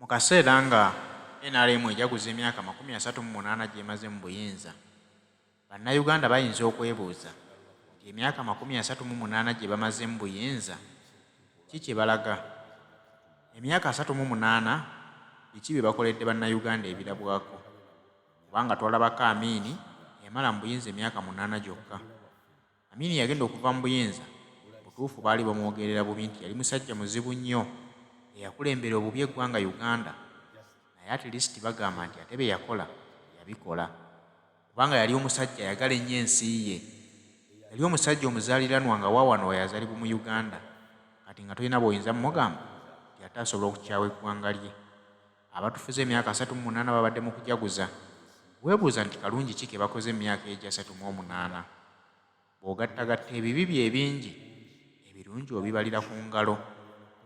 Mu kaseera nga nrm ejaguza emyaka amakumi asatu mu munaana gy'emaze mu buyinza, Bannayuganda bayinza okwebuuza nti emyaka amakumi asatu mu munaana gye bamaze mu buyinza ki kye balaga? Emyaka asatu mu munaana biki bye bakoledde Bannayuganda ebirabwako? Kubanga twalabako Amin yamala mu buyinza emyaka munaana gyokka. Amin yagenda okuva mu buyinza butuufu baali bamwogerera bubi nti yali musajja muzibu nnyo eyakulembera obubi eggwanga Uganda naye at least bagamba nti ate bye yakola yabikola kubanga yali omusajja ayagala ennyo ensi ye yali omusajja omuzaaliranwa nga waawano wayazalibwa mu Uganda kati nga tolina bw'oyinza mugamba nti ate asobola okukyawa eggwanga lye. Abatufuze emyaka asatu mu munaana babadde mu kujaguza. Weebuuza nti kalungi ki ke bakoze mu myaka egyo asatu mu omunaana? Bw'ogattagatta ebibi byo ebingi, ebirungi obibalira ku ngalo.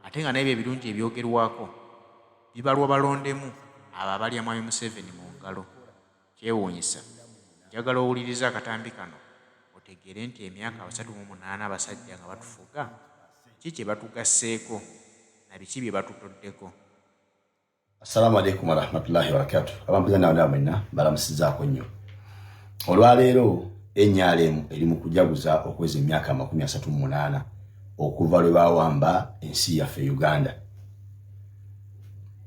Ate nga n'ebyo ebirungi ebyogerwako bibalwa balondemu abo abalya Mwami Museveni mu ngalo. Kyewuunyisa. Njagala owulirize akatambi kano otegeere nti emyaka asatu mu munaana abasajja nga batufuga, ki kye batugasseeko na biki bye batutoddeko? Assalamu alaikum warahmatullahi wabarakatu abampuza nawe nawe mwenna balamusizaako nnyo olwaleero enyalemu eri mu kujaguza okweza emyaka amakumi asatu mu munaana okuva lwe bawamba ensi yaffe e uganda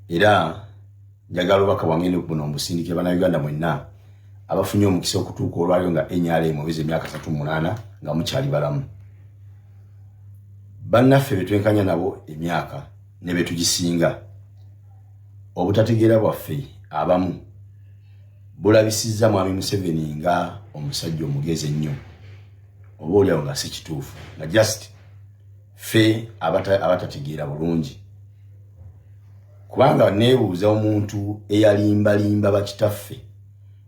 era njagala obaka bwange nobuno mbusindike banauganda mwenna abafunye omukisa okutuuka olwaliro nga enyalemu obeza emyaka asatu mu munaana nga mukyali balamu bannaffe betwenkanya nabo emyaka ne be tugisinga obutategeera bwaffe abamu bulabisizza mwami museveni nga omusajja omugezi ennyo oba olyawo nga si kituufu nga just fe abatategeera bulungi kubanga neebuuza omuntu eyalimbalimba bakitaffe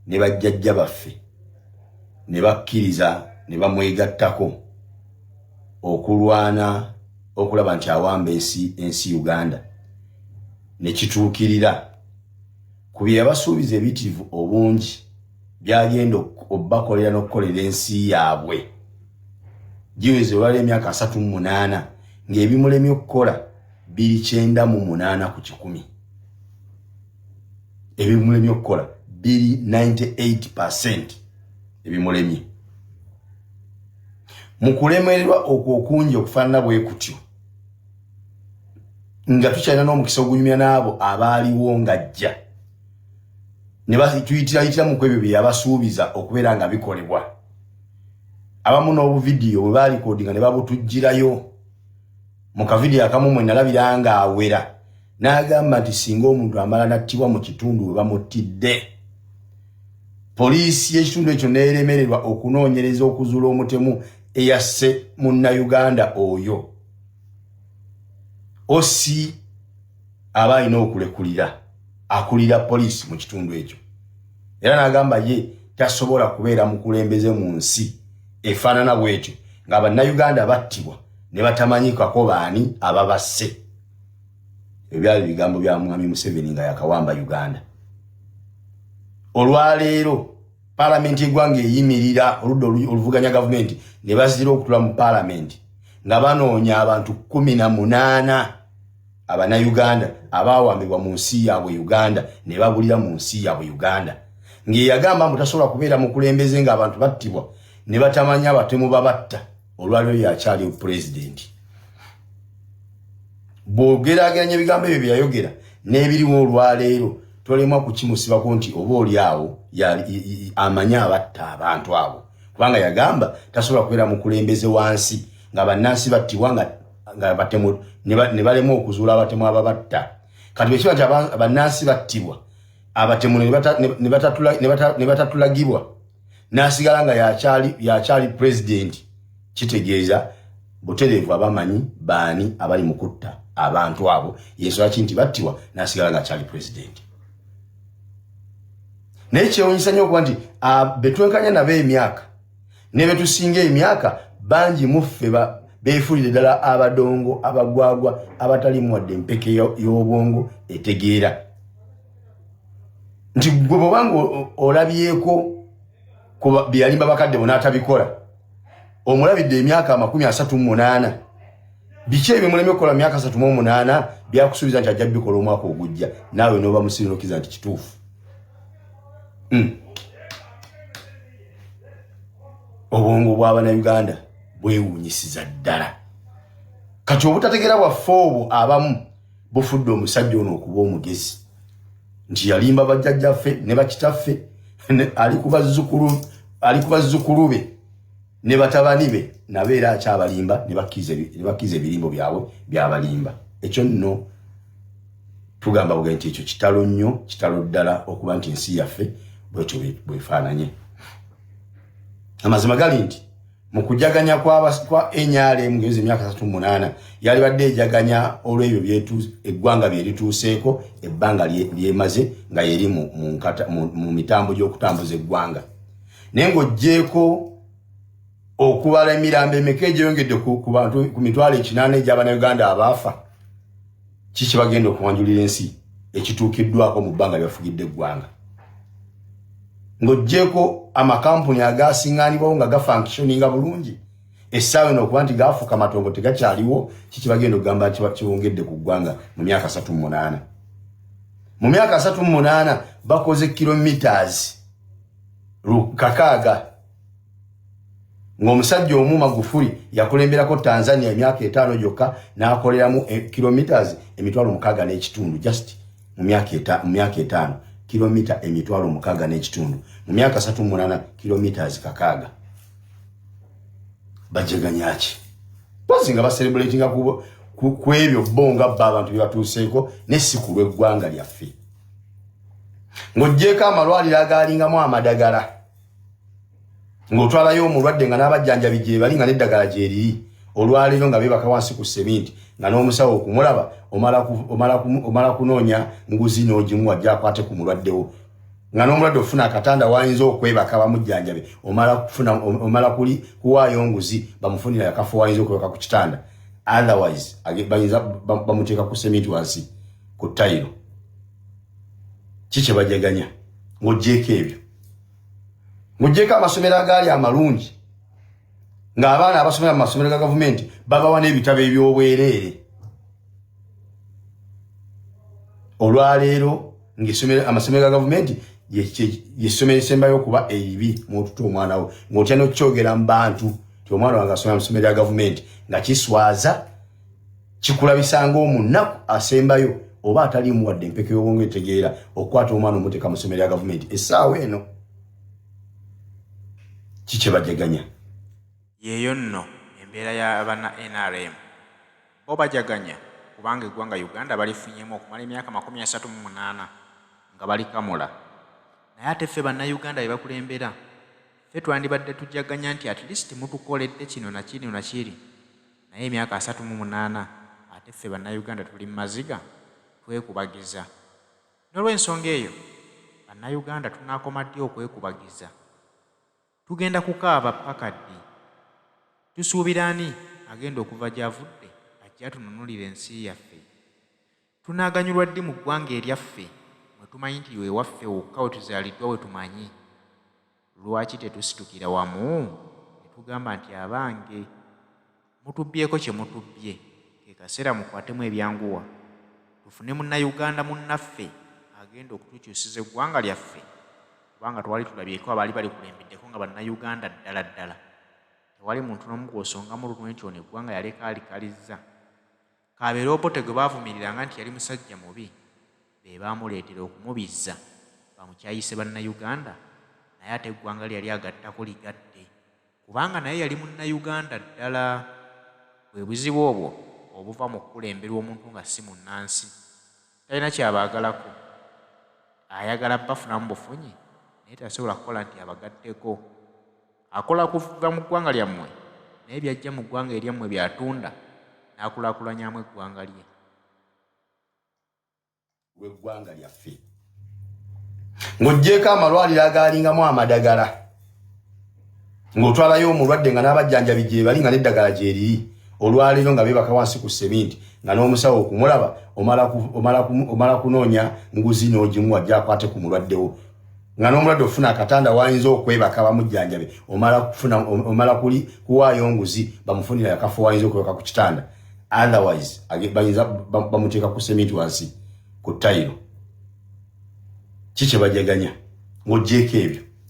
ne bajjajja baffe ne bakkiriza ne bamwegattako okulwana okulaba nti awamba ensi ensi uganda nekituukirira ku bye yabasuubiza ebitirivu obungi byagenda obakolera n'okukolera ensi yaabwe giweze olwala emyaka asatu mu munaana ng'ebimulemye okukola biri kyenda mu munaana ku kikumi ebimulemye okukola biri 98 percent ebimulemye mu kulemererwa okwo okungi okufaanana bwe kutyo nga tukyalina n'omukisa ogunyumya n'abo abaaliwo ng'ajja ne tuyitiraitira mu ku ebyo bye yabasuubiza okubeera nga bikolebwa abamu n'obuvidiyo bwe baalikodinga ne babutujjirayo mu kavidiyo akamu mwe nalabira nga awera n'agamba nti singa omuntu amala nattibwa mu kitundu we bamuttidde poliisi y'ekitundu ekyo neeremererwa okunoonyereza okuzuula omutemu eyasse munnayuganda oyo osi aba alina okulekulira akulira poliisi mu kitundu ekyo era n'agamba ye tasobola kubeera mukulembeze mu nsi efaanana bwetyo nga bannayuganda battibwa ne batamanyikako baani ababasse ebyo byali bigambo bya mwami museveni nga yakawamba uganda olwaleero palamenti egwanga eyimirira oludda oluvuganya gavumenti ne bazira okutula mu palamenti nga banoonya abantu kumi na munaana abanayuganda abawambibwa mu nsi yaabwe uganda ne babulira mu nsi yaabwe uganda ng'eyagamba mbu tasobola kubeera mukulembeze ng'abantu battibwa ne batamanya abatemu babatta olwaliro yakyali pulezidenti bwogerageranya ebigambo ebyo byeyayogera n'ebiriwo olwaleero tolemwa kukimusibako nti oba oli awo amanye abatta abantu abo kubanga yagamba tasobola kubeera mukulembeze wansi nga bannansi battibwa nga nga batemu ne balema okuzuula abatemu ababatta kati bwekiba nti bannansi battibwa abatemu ne batatulagibwa n'asigala nga yakyali pulezidenti kitegeeza butereevu abamanyi baani abali mu kutta abantu abo yensonga ki nti battibwa n'asigala nga akyali pulezidenti naye kyewunyisa nyo okuba nti ah, betwenkanya nabo emyaka ne bye tusinga emyaka bangi mu ffe beefuulire ddala abadongo abagwagwa abatalimu wadde empeke y'obwongo etegeera nti gwe bwobanga olabyeko byeyalimba bakadde bona atabikola omulabidde emyaka amakumi asatu munaana biki ebyo muleme okukola myaka asatu mu omunaana byakusuubiza nti ajja bikola omwaka ogujja naawe noba musirinokiriza nti kituufu hmm. obwongo bwabanauganda bwewunyisiza ddala kati obutategera bwaffe obwo abamu bufudde omusajja ono okuba omugezi nti yalimba bajjajjaffe ne bakitaffe ali kubazzukulu be ne batabani be nabo era akyabalimba ne bakkiza ebirimbo byabwe byabalimba ekyo nno tugamba buga nti ekyo kitalo nnyo kitalo ddala okuba nti ensi yaffe bwetyo bwefaananye amazima gali nti mu kujaganya kwa nrm ngezi emyaka satu munaana yalibadde ejaganya olw'ebyo eggwanga bye lituuseeko ebbanga lyemaze nga yeri mu mitambo gy'okutambuza eggwanga naye ng'oggyeeko okubala emirambo emeka egyeyongedde ku mitwalo ekinaana egy'abana uganda abaafa kiki bagenda okuwanjulira ensi ekituukiddwako mu bbanga lyebafugidde eggwanga ng'ogyeko amakampuni agasingaanibwawo nga gafankishoninga bulungi essaawa eno okuba nti gaafuuka matongo tegakyaliwo kiki bagenda okugamba nti kiwongedde ku ggwanga mu myaka asatu mu munaana mu myaka asatu mu munaana bakoze kilometres lukakaaga ng'omusajja omu magufuli yakulemberako tanzania emyaka etaano gyokka n'akoleramu e, kilometres emitwalo mukaaga n'ekitundu just mu myaka etaano kilomita emitwalo mukaaga n'ekitundu mu myaka satu munana kilometres kakaaga bajeganyaki pozi nga baserebulatinga ku ebyo bo nga bba abantu bye batuuseeko ne si ku lw'eggwanga lyaffe ng'ogyeko amalwaliro agaalingamu amadagala ng'otwalayo omulwadde nga n'abajjanjabi gyebali nga n'eddagala gyeriri olwaleero nga beebaka wansi ku seminti nga n'omusawo okumulaba omala kunoonya nguzi n'ogimuwa gyakwate ku mulwaddewo nga n'omulwadde ofuna akatanda wayinza okwebaka bamujjanjabe omala kuli kuwaayo nguzi bamufunira akafo wayinza okwebaka ku kitanda otherwise bayinza bamuteeka ku seminti wansi ku tayiro ki kyebajaganya ng'ogyeko ebyo mujjeko amasomero agaali amalungi ng'abaana abasomera mu masomero ga gavumenti babawa n'ebitabo eby'obwereere olwaleero ng'amasomero ga gavumenti yessomero esembayo okuba eribi muotuta omwana wo ng'otya n'okukyogera mu bantu ti omwana wange asomera mu somero ya gavumenti nga kiswaza kikulabisa ng'omunaku asembayo oba ataliimu wadde empeke y'obwongo etegeera okukwata omwana omuteeka mu ssomero ya gavumenti essaawa eno kikyebajaganya yeeyo nno embeera y'abana nrm bo bajaganya kubanga eggwanga uganda balifunyemu okumala emyaka makumi asatu mu munaana nga balikamula naye ate ffe bannayuganda be bakulembera ffe twandibadde tujaganya nti at least mutukoledde kino nakiri nakiri naye emyaka asatu mu munaana ate ffe bannayuganda tuli mu maziga twekubagiza. N'olwensonga eyo bannayuganda tunaakoma ddi okwekubagiza? Tugenda kukaaba ppaka ddi? Tusuubira ani agenda okuva gy'avudde ajje atununulire ensi yaffe? Tunaaganyulwa ddi mu ggwanga eryaffe mwe tumanyi nti wewaffe wokka wetuzaaliddwa wetumanyi? Lwaki tetusitukira wamu ne tugamba nti abange mutubbyeko kye mutubbye ke kaseera mukwatemu ebyanguwa tufune munnayuganda munnaffe agenda okutukyusiza eggwanga lyaffe kubanga twali tulabyeko abaali balikulembeddeko nga bannayuganda ddala ddala tewali muntu n'omu gw'osongamu lunwe nti ono eggwanga yaleka alikalizza. Kabeere Obote gwe baavumiriranga nti yali musajja mubi be baamuleetera okumubizza bamukyayise Bannayuganda naye ate eggwanga lye yali agattako ligatte kubanga naye yali Munnayuganda ddala. Bwe buzibu obwo obuva mu kukulemberwa omuntu nga si munnansi. Talina kyabaagalako. Ayagala bafunamu bufunyi naye tasobola kukola nti abagatteko. Akola ku va mu ggwanga lyammwe naye byajja mu ggwanga eryammwe byatunda n'akulaakulanyamu eggwanga lye. w'eggwanga lyaffe ng'oggyeeko amalwaliro agaalingamu amadagala. ng'otwalayo omulwadde nga n'abajjanjabi gyebali nga n'eddagala gyeriri olwaleero nga beebaka wansi ku seminti nga n'omusawo okumulaba omala kunoonya nguzi n'ogimuwa gyakwate ku mulwaddewo nga n'omulwadde ofuna akatanda wayinza okwebaka bamujjanjabe omala kuli kuwaayo nguzi bamufunira akafo wayinza okwebaka ku kitanda otherwise bayinza bamuteeka ku seminti wansi ku tayiro ki kyebajaganya ng'ogyeko ebyo